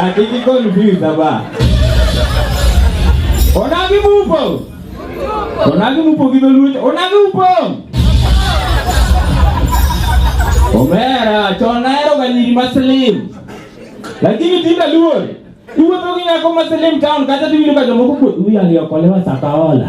Atiki confused aba. Onagi mupo. Onagi mupo gido lucho. Onagi mupo. Omera, chona ero ganyiri maslim. Lakini tinda luo. Iwe toki nyako maslim town kata tiwiro ka jomoko kuo. Uya liyo kolewa sakaola.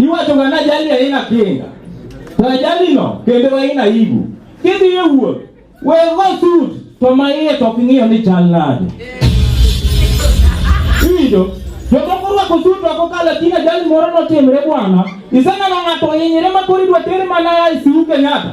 Iwacho ga na jali aina kinga. To jali no kendo aina ibu. Kidhi e wuoth, we go sud to ma iye to ok ing'iyo ni chal nade. Ido, jomoko orwako sud to kokalo tin ajali moro notimre bwana. Iseneno ng'ato ohinyre ma koro idwa tere mana e siu Kenyatta.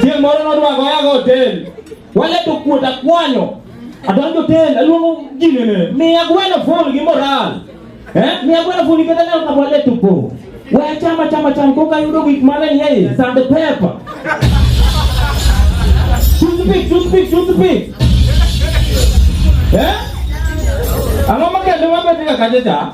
Chieng' moro nodwa goya go hotel. Wale to kuota kwanyo. Adonjo hotel, aluongo gine ne. Miya gweno full gi moral. Eh? Miya gweno full gi moral ka wale to po. Waya chama chama chama koka yudo gik mane ni yeye sand pepper. Toothpick, toothpick, toothpick. Eh? Ang'o makende mabetika kacha cha?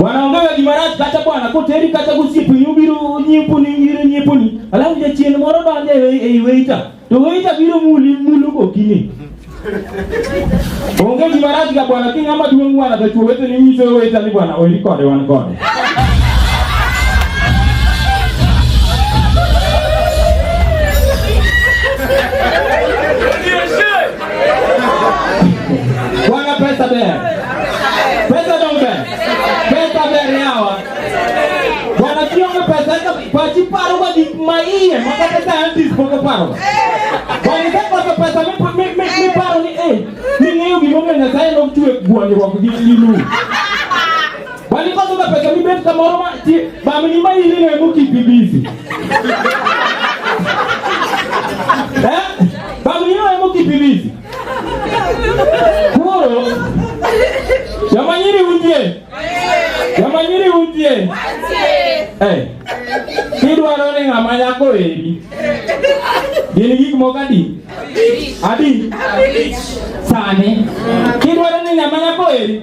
wanaongea Kimarati kata bwana koteri kata gosiep nyubiru nyipuni nyiru nyipuni alafu jachien moro donjo ei weita to weita biro muli mulu gokinyi onge Kimarati ka bwana ki ng'ama duong' bwana to chwo weteni nyiso weita ni bwana oiri kode wan kode Bwana pesa bere. Pesa donge. Pesa bere yawa. Bwana kionge pesa ka pachi paro wa dik ma iye ma kata scientist poko paro. Bwana ka pesa pesa mi mi mi, mi paro ni eh. Ni ng'eyo gimomiyo Nyasaye nochwe gwandruok gi lilu. Kwani kwanza unapeka mimi beti kama Roma ti ba mimi mai ile ile muki bibizi. Eh? Ba mimi ile muki bibizi. Kuro. Yamanyiri undie. Yamanyiri undie. Eh. Kidwaro ni ng'ama nyako eri. Gin gik moko adi? Adi. Sani. Kidwaro ni ng'ama nyako eri.